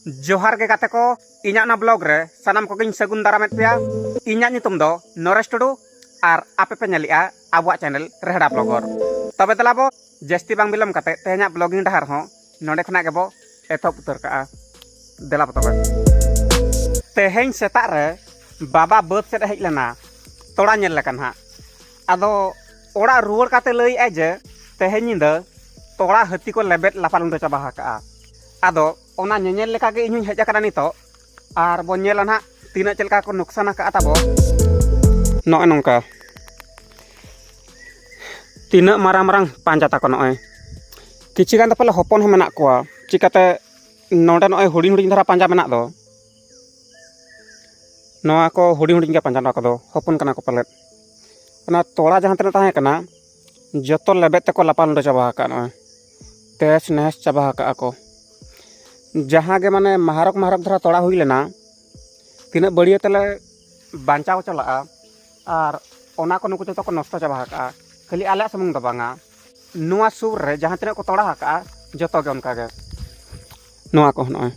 ᱡᱚᱦᱟᱨ ᱜᱮ ᱜᱟᱛᱮ ᱠᱚ ᱤᱧᱟᱹᱜ ᱚᱱᱟ ᱵᱞᱚᱜ ᱨᱮ ᱥᱟᱱᱟᱢ ᱠᱚᱜᱮᱧ ᱥᱟᱹᱜᱩᱱ ᱫᱟᱨᱟᱢᱮᱫ ᱯᱮᱭᱟ ᱤᱧᱟᱹᱜ ᱧᱩᱛᱩᱢ ᱫᱚ ᱱᱚᱨᱮᱥ ᱴᱩᱰᱩ ᱟᱨ ᱟᱯᱮ ᱯᱮ ᱧᱮᱞᱮᱜᱼᱟ ᱟᱵᱚᱣᱟᱜ ᱪᱮᱱᱮᱞ ᱨᱮᱦᱲᱟ ᱵᱞᱚᱜᱚᱨ ᱛᱚᱵᱮ ᱫᱮᱞᱟ ᱵᱚ ᱡᱟᱹᱥᱛᱤ ᱵᱟᱝ ᱵᱤᱞᱚᱢ ᱠᱟᱛᱮ ᱛᱮᱦᱮᱧᱟᱜ ᱵᱞᱚᱜᱤᱝ ᱰᱟᱦᱟᱨ ᱦᱚᱸ ᱱᱚᱰᱮ ᱠᱷᱚᱱᱟᱜ ᱜᱮᱵᱚ ᱮᱛᱚᱦᱚᱵ ᱩᱛᱟᱹᱨ ᱠᱟᱜᱼᱟ ᱫᱮᱞᱟ ᱵᱚ ᱛᱚᱵᱮ ᱛᱮᱦᱮᱧ ᱥᱮᱛᱟᱜ ᱨᱮ ᱵᱟᱵᱟ ᱵᱟᱹᱫᱽ ᱥᱮᱫ ᱦᱮᱡ ᱞᱮᱱᱟ ᱛᱚᱲᱟ ᱧᱮᱞ ᱞᱮᱠᱟ ᱱᱟᱦᱟᱜ ᱟᱫᱚ ᱚᱲᱟᱜ ᱨᱩᱣᱟᱹᱲ ᱠᱟᱛᱮ ᱞᱟᱹᱭᱮᱜᱼᱟᱭ ᱡᱮ ᱛᱮᱦᱮᱧ ᱧᱤᱫᱟᱹ ᱛᱚᱲᱟ ᱦᱟᱹᱛᱤ ᱠᱚ ᱞᱮᱵᱮᱫ ᱞᱟᱯᱟᱞ ᱩᱰᱟᱹ ᱪᱟᱵᱟ ᱟᱠᱟᱜᱼᱟ ᱟᱫᱚ ᱚᱱᱟ ᱧᱮᱧᱮᱞ ᱞᱮᱠᱟ ᱜᱮ ᱤᱧ ᱦᱚᱸᱧ ᱦᱮᱡ ᱟᱠᱟᱱᱟ ᱱᱤᱛᱚᱜ ᱟᱨ ᱵᱚᱱ ᱧᱮᱞᱟ ᱱᱟᱦᱟᱜ ᱛᱤᱱᱟᱹᱜ ᱪᱮᱫ ᱞᱮᱠᱟ ᱠᱚ ᱱᱩᱠᱥᱟᱱ ᱟᱠᱟᱫᱼᱟ ᱛᱟᱵᱚ ᱱᱚᱜᱼᱚᱭ ᱱᱚᱝᱠᱟ ᱛᱤᱱᱟᱹᱜ ᱢᱟᱨᱟᱝ ᱢᱟᱨᱟᱝ ᱯᱟᱸᱡᱟ ᱛᱟᱠᱚ ᱱᱚᱜᱼᱚᱭ ᱠᱤᱪᱷᱩ ᱜᱟᱱ ᱫᱚ ᱯᱟᱞᱮ ᱦᱚᱯᱚᱱ ᱦᱚᱸ ᱢᱮᱱᱟᱜ ᱠᱚᱣᱟ ᱪᱤᱠᱟᱹᱛᱮ ᱱᱚᱰᱮ ᱱᱚᱜᱼᱚᱭ ᱦᱩᱰᱤᱧ ᱦᱩᱰᱤᱧ ᱫᱷᱟᱨᱟ ᱯᱟᱸᱡᱟ ᱢᱮᱱᱟᱜ ᱫᱚ ᱱᱚᱣᱟ ᱠᱚ ᱦᱩᱰᱤᱧ ᱦᱩᱰᱤᱧ ᱜᱮ ᱯᱟᱸᱡᱟ ᱱᱚᱣᱟ ᱠᱚᱫᱚ ᱦᱚᱯᱚᱱ ᱠᱟᱱᱟ ᱠᱚ ᱯᱟᱞᱮᱫ ᱚᱱᱟ ᱛᱚᱲᱟ ᱡᱟᱦᱟᱸ ᱛᱤᱱᱟᱹᱜ ᱛᱟᱦᱮᱸ ᱠᱟᱱᱟ ᱡᱚᱛᱚ ᱞᱮᱵᱮᱫ ᱛᱮᱠᱚ ᱞᱟᱯᱟᱞᱳᱰᱳ ᱪᱟᱵᱟ ᱟᱠᱟᱫ ᱱᱚᱜᱼᱚᱭ ᱛᱮᱦᱮᱥ ᱱᱮᱦᱮᱥ ᱪᱟᱵᱟ ᱟᱠᱟᱫ ᱟᱠᱚ ᱡᱟᱦᱟᱸ ᱜᱮ ᱢᱟᱱᱮ ᱢᱟᱦᱟᱨᱚᱠ ᱢᱟᱦᱟᱨᱚᱠ ᱫᱷᱟᱨᱟ ᱛᱚᱲᱟ ᱦᱩᱭ ᱞᱮᱱᱟ ᱛᱤᱱᱟᱹᱜ ᱵᱟᱹᱲᱭᱟᱹ ᱛᱮᱞᱮ ᱵᱟᱧᱪᱟᱣ ᱪᱟᱞᱟᱜᱼᱟ ᱟᱨ ᱚᱱᱟ ᱠᱚ ᱱᱩᱠᱩ ᱡᱚᱛᱚ ᱠᱚ ᱱᱚᱥᱴᱚ ᱪᱟᱵᱟ ᱟᱠᱟᱫᱼᱟ ᱠᱷᱟᱹᱞᱤ ᱟᱞᱮᱭᱟᱜ ᱥᱩᱢᱩᱝ ᱫᱚ ᱵᱟᱝᱟ ᱱᱚᱣᱟ ᱥᱩᱨ ᱨᱮ ᱡᱟᱦᱟᱸ ᱛᱤᱱᱟᱹᱜ ᱠᱚ ᱛᱚᱲᱟ ᱟᱠᱟᱫᱼᱟ ᱡᱚᱛᱚ ᱜᱮ ᱚᱱᱠᱟ ᱜᱮ ᱱᱚᱣᱟ ᱠᱚ ᱱᱚᱜᱼᱚᱭ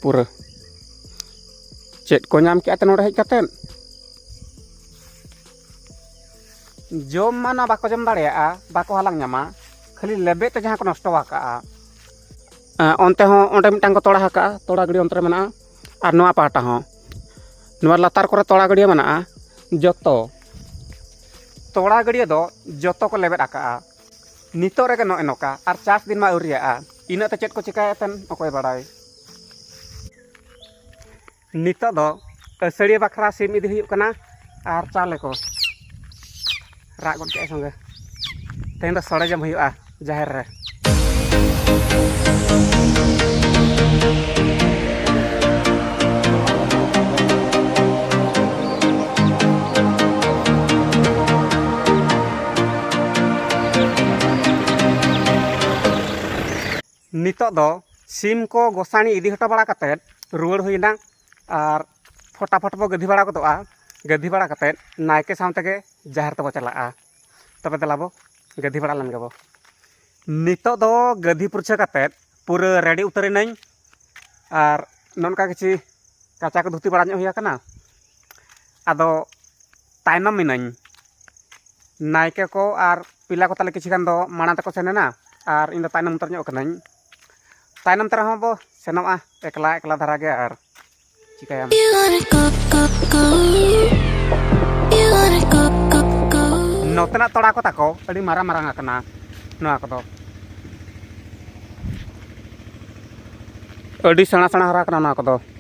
ᱯᱩᱨᱟᱹ ᱪᱮᱫ ᱠᱚ ᱧᱟᱢ ᱠᱮᱫᱼᱟ ᱱᱚᱰᱮ ᱦᱮᱡ ᱠᱟᱛᱮᱫ ᱡᱚᱢ ᱢᱟ ᱱᱚᱣᱟ ᱵᱟᱠᱚ ᱡᱚᱢ ᱫᱟᱲᱮᱭᱟᱜᱼᱟ ᱵᱟᱠᱚ ᱦᱟᱞᱟᱝ ᱧᱟᱢᱟ ᱠᱷᱟᱹᱞᱤ ᱞᱮᱵᱮᱫ ᱛᱮ ᱡᱟᱦᱟᱸ ᱠᱚ ᱱᱚᱥᱴᱚ ᱟᱠᱟᱜᱼᱟ ᱚᱱᱛᱮ ᱦᱚᱸ ᱚᱸᱰᱮ ᱢᱤᱫᱴᱟᱝ ᱠᱚ ᱛᱚᱲᱟ ᱟᱠᱟᱜᱼᱟ ᱛᱚᱲᱟ ᱜᱟᱹᱰᱤ ᱚᱱᱛᱮ ᱨᱮ ᱢᱮᱱᱟᱜᱼᱟ ᱟᱨ ᱱᱚᱣᱟ ᱯᱟᱦᱴᱟ ᱦᱚᱸ ᱱᱚᱣᱟ ᱞᱟᱛᱟᱨ ᱠᱚᱨᱮ ᱛᱚᱲᱟ ᱜᱟᱹᱰᱭᱟᱹ ᱢᱮᱱᱟᱜᱼᱟ ᱡᱚᱛᱚ ᱛᱚᱲᱟ ᱜᱟᱹᱰᱭᱟᱹ ᱫᱚ ᱡᱚᱛᱚ ᱠᱚ ᱞᱮᱵᱮᱫ ᱟᱠᱟᱜᱼᱟ ᱱᱤᱛᱚᱜ ᱨᱮᱜᱮ ᱱᱚᱜᱼᱚᱭ ᱱᱚᱝᱠᱟ ᱟᱨ ᱪᱟᱥ ᱫᱤᱱ ᱢᱟ ᱟᱹᱣᱨᱤᱭᱟᱜᱼᱟ ᱤᱱᱟᱹᱜ ᱛᱮ ᱪᱮᱫ ᱠᱚ ᱪᱤᱠᱟᱹᱭᱮᱫ ᱛᱟᱦᱮᱱ ᱚᱠᱚᱭ ᱵᱟᱲᱟᱭ ᱱᱤᱛᱚᱜ ᱫᱚ ᱟᱹᱥᱟᱹᱲᱤᱭᱟᱹ ᱵᱟᱠᱷᱨᱟ ᱥᱤᱢ ᱤᱫᱤ ᱦᱩᱭᱩᱜ ᱠᱟᱱᱟ ᱟᱨ ᱪᱟᱣᱞᱮ ᱠᱚ ᱨᱟᱜ ᱜᱚᱫ ᱠᱮᱫᱟᱭ ᱥᱚᱸᱜᱮ ᱛᱮᱦᱮᱧ ᱫᱚ ᱥᱚᱲᱮ ᱡᱚᱢ ᱦᱩᱭᱩᱜᱼᱟ ᱡᱟᱦᱮᱨ ᱨᱮ ᱱᱤᱛᱚᱜ ᱫᱚ ᱥᱤᱢ ᱠᱚ ᱜᱚᱥᱟᱬᱤ ᱤᱫᱤ ᱦᱚᱴᱚ ᱵᱟᱲᱟ ᱠᱟᱛᱮᱫ ᱨᱩᱣᱟᱹᱲ ᱦᱩᱭᱱᱟ ᱟᱨ ᱯᱷᱚᱴᱟᱯᱷᱚᱴ ᱵᱚ ᱜᱟᱹᱫᱷᱤ ᱵᱟᱲᱟ ᱜᱚᱫᱚᱜᱼᱟ ᱜᱟᱹᱫᱷᱤ ᱵᱟᱲᱟ ᱠᱟᱛᱮᱫ ᱱᱟᱭᱠᱮ ᱥᱟᱶ ᱛᱮᱜᱮ ᱡᱟᱦᱮᱨ ᱛᱮᱵᱚ ᱪᱟᱞᱟᱜᱼᱟ ᱛᱚᱵᱮ ᱫᱮᱞᱟ ᱵᱚ ᱜᱟᱹᱫᱷᱤ ᱵᱟᱲᱟ ᱞᱮᱱ ᱜᱮᱵᱚ ᱱᱤᱛᱚᱜ ᱫᱚ ᱜᱟᱹᱫᱷᱤ ᱯᱩᱨᱪᱷᱟᱹ ᱠᱟᱛᱮᱫ ᱯᱩᱨᱟᱹ ᱨᱮᱰᱤ ᱩᱛᱟᱹᱨᱮᱱᱟᱹᱧ ᱟᱨ ᱱᱚᱝᱠᱟ ᱠᱤᱪᱷᱤ ᱠᱟᱪᱟ ᱠᱚ ᱫᱷᱩᱛᱤ ᱵᱟᱲᱟ ᱧᱚᱜ ᱦᱩᱭ ᱟᱠᱟᱱᱟ ᱟᱫᱚ ᱛᱟᱭᱱᱚᱢ ᱮᱱᱟᱹᱧ ᱱᱟᱭᱠᱮ ᱠᱚ ᱟᱨ ᱯᱮᱲᱟ ᱠᱚ ᱛᱟᱞᱮ ᱠᱤᱪᱷᱩ ᱜᱟᱱ ᱫᱚ ᱢᱟᱲᱟᱝ ᱛᱮᱠᱚ ᱥᱮᱱ ᱮᱱᱟ ᱟᱨ ᱤᱧ ᱫᱚ ᱛᱟᱭᱱᱚᱢ ᱩᱛᱟᱹᱨ ᱧᱚᱜ ᱠᱟᱹᱱᱟᱹᱧ ᱛᱟᱭᱱᱚᱢ ᱛᱮ ᱨᱮᱦᱚᱸ ᱵᱚ ᱥᱮᱱᱚᱜᱼᱟ ᱮᱠᱞᱟ ᱮᱠᱞᱟ ᱫᱷᱟᱨᱟ ᱜᱮ ᱟᱨ ᱪᱤᱠᱟᱹᱭᱟᱢ ᱱᱚᱛᱮᱱᱟᱜ ᱛᱚᱲᱟ ᱠᱚ ᱛᱟᱠᱚ ᱟᱹᱰᱤ ᱢᱟᱨᱟᱝ ᱢᱟᱨᱟᱝ ᱟᱠᱟᱱᱟ ᱱᱚᱣᱟ ᱠᱚᱫᱚ ᱟᱹᱰᱤ ᱥᱮᱬᱟ ᱥᱮᱬᱟ ᱦᱟᱨᱟ ᱟᱠᱟᱱᱟ ᱱᱚᱣᱟ ᱠᱚᱫᱚ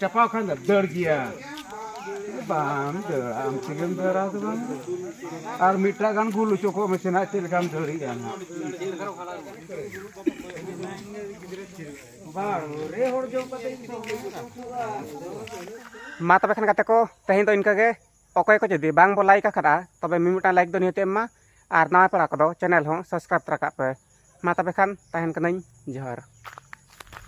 ᱪᱟᱯᱟᱣ ᱠᱷᱟᱱ ᱫᱚ ᱫᱟᱹᱲ ᱜᱮᱭᱟ ᱵᱟᱢ ᱫᱟᱹᱲᱟ ᱟᱢ ᱛᱮᱜᱮᱢ ᱫᱟᱹᱲᱟ ᱫᱚ ᱵᱟᱝ ᱟᱨ ᱢᱤᱫᱴᱟᱜ ᱜᱟᱱ ᱜᱩᱞ ᱦᱚᱪᱚ ᱠᱚᱜ ᱢᱮᱥᱮ ᱱᱟᱜ ᱪᱮᱫ ᱞᱮᱠᱟᱢ ᱫᱟᱹᱲᱮᱜᱼᱟ ᱱᱟᱜ ᱢᱟ ᱛᱚᱵᱮ ᱠᱷᱟᱱ ᱜᱟᱛᱮ ᱠᱚ ᱛᱮᱦᱮᱧ ᱫᱚ ᱤᱱᱠᱟᱹ ᱜᱮ ᱚᱠᱚᱭ ᱠᱚ ᱡᱩᱫᱤ ᱵᱟᱝ ᱵᱚ ᱞᱟᱭᱤᱠ ᱟᱠᱟᱫᱟ ᱛᱚᱵᱮ ᱢᱤᱢᱤᱫᱴᱟᱝ ᱞᱟᱭᱤᱠ ᱫᱚ ᱱᱤᱦᱟᱹᱛ ᱮᱢ ᱢᱟ ᱟᱨ ᱱᱟᱣᱟ ᱯᱮᱲᱟ ᱠᱚᱫᱚ ᱪᱮᱱᱮᱞ ᱦᱚᱸ ᱥᱟᱵᱥᱠᱨᱟᱭᱤᱵ ᱛᱚᱨᱟ ᱠᱟᱜ ᱯᱮ ᱢᱟ ᱛᱚᱵᱮ ᱠᱷᱟᱱ ᱛᱟᱦᱮᱱ ᱠᱟᱹᱱᱟᱹᱧ ᱡᱚᱦᱟᱨ